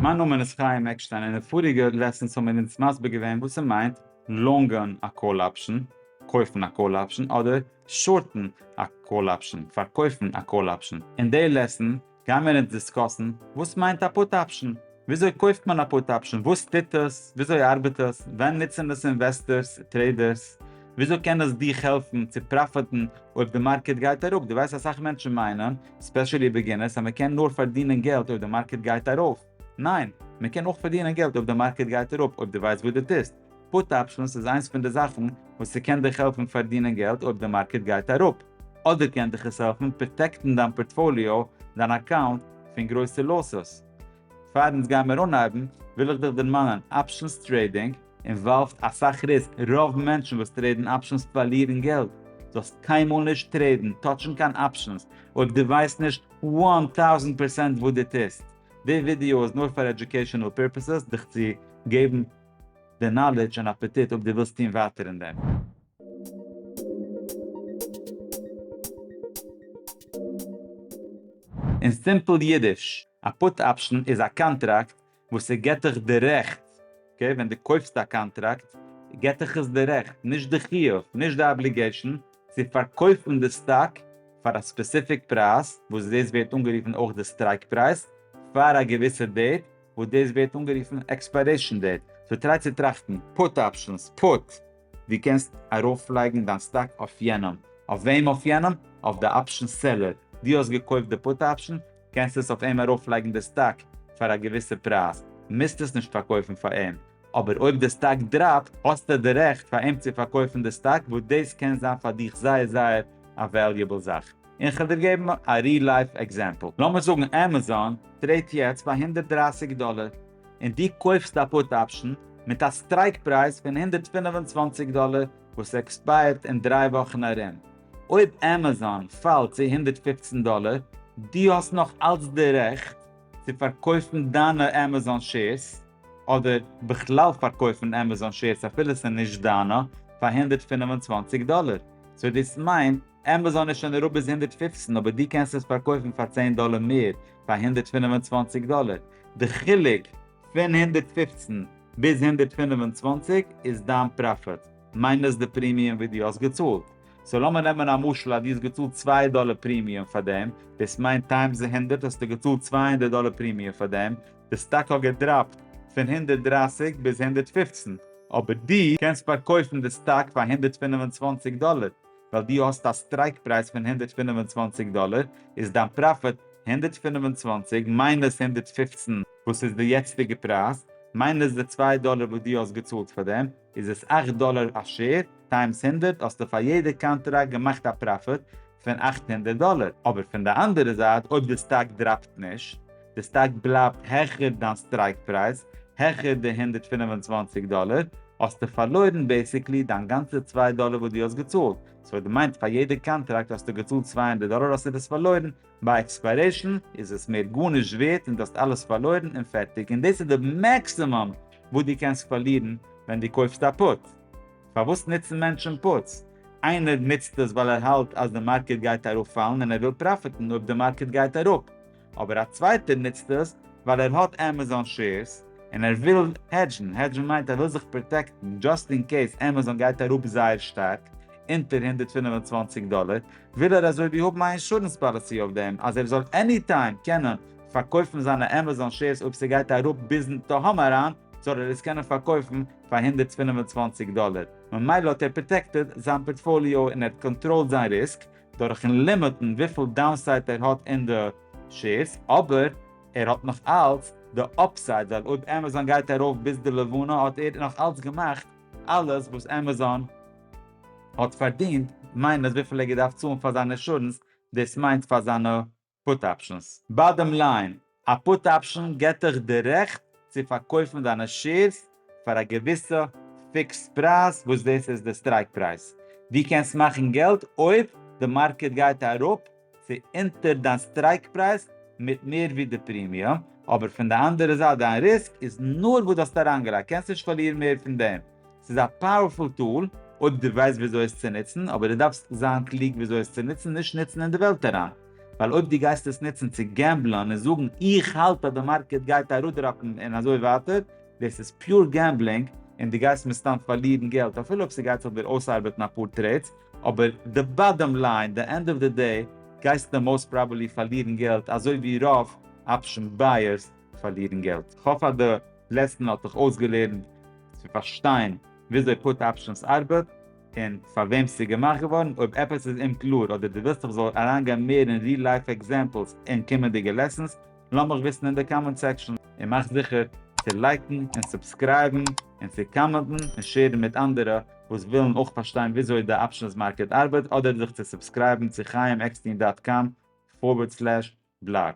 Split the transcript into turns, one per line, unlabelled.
מיין נאמען איז חיים עקשטיין און אין פאריגע לעסענס האבן מיר אונז מסביר געווען וואס ס'מיינט לאנגען א קאל אפשען, קויפן א קאל אפשען, אדער שארטן א קאל אפשען, פארקויפן א קאל אפשען. אין די לעסען גייען מיר אונז דיסקאסן וואס מיינט א פוט אפשען, וויאזוי קויפט מען א פוט אפשען, וואס טוט עס, וויאזוי ארבעט עס, ווען נוצן עס אינוועסטערס, טרעידערס, וויאזוי קען עס דיך העלפן צו פראפיטן אויב די מארקעט גייט אראפ, דו ווייסט אסאך מענטשן מיינען ספעשעלי בעגינערס אז מען קען נאר פארדינען געלט אויב די מארקעט גייט ארויף, ניין! מען קען אויך פארדינען געלט אויב די מארקעט גייט אראפ אויב די ווייסט וואס די טוסט, פוט אפשענס איז איינס פון די זאכן וואס ס'קען דיך העלפן פארדינען געלט אויב די מארקעט גייט אראפ, אדער קען דיך עס העלפן פראטעקטן דיין פארטפאליאו, דיין אקאונט, פון גרויסע לאסעס. פאר אונז גיימער אנהייבן וויל איך דיך דערמאנען אפשענס טרעידינג, אינוואלווד אסאך ריסק, רוב מענטשן וואס טרעידן אפשענס פארלירן געלט, זאלסט קיינמאל נישט טרעידן, טאטשן קיין אפשענס, אויב דו ווייסט נישט וואן טאוזענט פערסענט וואס דו טוסט. די ווידיאו איז נאר פאר עדיוקעישאנעל פירפעסעס, דיך צו געבן די נאלידזש און אפעטיט אויב דו ווילסט טון ווייטער אין דעם. אין סימפל אידיש, א פוט אפשען איז א קאנטראקט וואס ס'געט דיך די רעכט, אקעי, ווען דו קויפסט א קאנטראקט געט דיך עס די רעכט, נישט די חיוב, נישט די אבליגעישאן, צו פארקויפן די סטאק פאר א ספעסיפיק פרייז, וואס דאס ווערט אנגערופן אויך די סטרייק פרייז, פאר א געוויסע דעיט, וואס דאס ווערט אנגערופן עקספיירעישאן דעיט. סאו טריי צו טראכטן. פוט אפשענס, פוט, דו קענסט ארויפלייגן דיין סטאק אויף יענעם, אויף וועם אויף יענעם? אויף די אפשען סעלער, דו האסט געקויפט די פוט אפשען, קענסט עס אויף אים ארויפלייגן די סטאק פאר א געוויסע פרייז, מוזט עס נישט פארקויפן פאר אים, אבער אויב די סטאק דראפט האסטו די רעכט פאר אים צו פארקויפן די סטאק וואס דאס קען זיין פאר דיך זייער זייער א וועליעבל זאך. און כ'וועל דיר געבן א ריל לייף עקזעמפל, לאמיר זאגן עמעזאן טרעידט יעצט פאר הונדערט דרײַסיק דאלער און דו קויפסט א פוט אפשן מיט א סטרייק פרייז פון הונדערט פֿינף און צוואַנציק דאלער וואס עקספייערט אין דריי וואכן ארום, אויב עמעזאן פאלט צו הונדערט פֿופֿצן דאלער, דו האסט נאך אלץ די רעכט צו פארקויפן דיינע עמעזאן שעירס, אדער בכלל פארקויפן עמעזאן שעירס אפילו ס'איז נישט דיינע, פאר הונדערט פֿינף און צוואַנציק דאלער. סאו דאס מיינט, עמעזאן איז שוין אראפ ביז הונדערט פֿופֿצן אבער דו קענסט עס פארקויפן פאר צען דאלער מער, פאר הונדערט פֿינף און צוואַנציק דאלער. די חילוק פון הונדערט פֿופֿצן ביז הונדערט פֿינף און צוואַנציק איז דיין פראפיט. מיינוס די פרימיום וואס דו האסט געצאלט. סאו לאמיר נעמען א משל אז דו האסט געצאלט צוויי דאלער פרימיום פאר דעם, דאס מיינט טיימס די הונדערט האסטו געצאלט צוויי הונדערט דאלער פרימיום פאר דעם, די סטאק האט געדראפט פון הונדערט דרײַסיק ביז הונדערט פֿופֿצן, אבער דו קענסט פארקויפן די סטאק פאר הונדערט פֿינף און צוואַנציק דאלער, ווייל דו האסט א סטרייק פרייז פון הונדערט פֿינף און צוואַנציק דאלער, איז דיין פראפיט הונדערט פֿינף און צוואַנציק מיינוס הונדערט פֿופֿצן וואס איז די יעצטיגע פרייז, מיינוס די צוויי דאלער וואס דו האסט געצאלט פאר דעם. איז עס אַכט דאלער א שעיר, טיימס הונדערט האסטו פאר יעדע קאנטראקט געמאכט א פראפיט פון אַכט הונדערט דאלער, אבער פון די אנדערע זייט אויב די סטאק דראפט נישט, די סטאק בלייבט העכער דיין סטרייק פרייז, העכער די הונדערט פֿינף און צוואַנציק דאלער, האסטו פארלוירן בעסיקלי דיין גאנצע צוויי דאלער וואס דו האסט געצאלט, סאו דמיינט פאר יעדע קאנטראקט האסטו געצאלט צוויי הונדערט דאלער האסטו דאס פארלוירן ביי עקספיירעישן איז עס מער גארנישט ווערט און דו האסט אלעס פארלוירן און פערטיג און דאס איז די מעקסימום וואס דו קענסט פארלירן ווען דו קויפסט א פוט. פארוואס נוצן מענטשן פוטס? איינער נוצט עס ווייל ער האלט אז די מארקעט גייט ארויף פאלן און ער וויל פראפיטן אויב די מארקעט גייט אראפ. אבער א צווייטער נוצט עס ווייל ער האט עמעזאן שעירס און ער וויל העדזשן, העדזשן מיינט ער וויל זיך פראטעקטן דזשאסט אין קעיס עמעזאן גייט אראפ זייער שטארק אונטער הונדערט פֿינף און צוואַנציק דאלער, וויל ער אזויווי האבן א אינשורענס פאליסי אויף דעם אז ער זאל עני טיים קענען פארקויפן זיינע עמעזאן שעירס אויב ס'גייט אראפ ביזן תהום אריין זאל ער עס קענען פארקויפן פאר הונדערט פֿינף און צוואַנציק דאלער, ממילא האט ער פראטעקטעד זיין פארטפאליאו און ער האט קאנטראלד זיין ריסק דורכן לימיטן וויפיל דאונסייט ער האט אין די שעירס, אבער ער האט נאך אלץ די אפסייד ווייל אויב עמעזאן גייט ארויף ביז די לבנה האט ער נאך אלץ געמאכט. אלעס וואס עמעזאן האט פארדינט מיינט אז וויפיל ער געדארפט צאלן פאר זיין אינשורענס דאס מיינט פאר זיינע פוט אפשענס. באדעם ליין, א פוט אפשען געט דיך די רעכט צו פארקויפן דיינע שעירס פאר א געוויסע פיקסד פרייז וואס דאס איז די סטרייק פרייז. דו קענסט מאכן געלט אויב די מארקעט גייט אראפ צו אונטער דיין סטרייק פרייז מיט מער ווי די פרימיום, אבער פון די אנדערע זייט דיין ריסק איז נאר וואס די האסט אריינגעלייגט, קענסט נישט פארלירן מער פון דעם. ס'איז א פאוערפול טול אויב די ווייסט וויאזוי עס צו נוצן, אבער די דארפסט זיין קלוג וויאזוי עס צו נוצן, נישט נוצן אין די וועלט אריין, ווייל אויב די גייסט עס נוצן צו געמבלען און זאגן איך האלט אז די מארקעט גייט אראדראפן און אזוי ווייטער, דאס איז פיור געמבלינג און די גייסט מסתם פארלירן געלט אפילו אויב ס'גייט זיך דיר אויסארבעטן אפאר טרעידס, אבער די באדאם ליין, די ענד אוו די דעי, גייסטו מאוסט פראבעלי פארלירן געלט אזוי ווי רוב אפשען בייערס פארלירן געלט. כ'האף אז די לעסן האט דיך אויסגעלערנט צו פארשטיין וויאזוי פוט אפשענס ארבעט און פארוועם ס'איז געמאכט געווארן, אויב עפעס איז אומקלאר אדער דו ווילסט איך זאל אריינגיין מער אין ריל לייף עקזעמפלס אין קומענדיגע לעסנס, לאמיך וויסן אין די קאמענט סעקשאן. און מאך זיכער צו לייקן און סובסקרייבן און צו קאמענטן און שעירן מיט אנדערע וואס ווילן אויך פארשטיין וויאזוי די אפשענס מארקעט ארבעט אדער זיך צו סובסקרייבן צו חיים עקסטין דאט קאם פארווערד סלעש בלאג.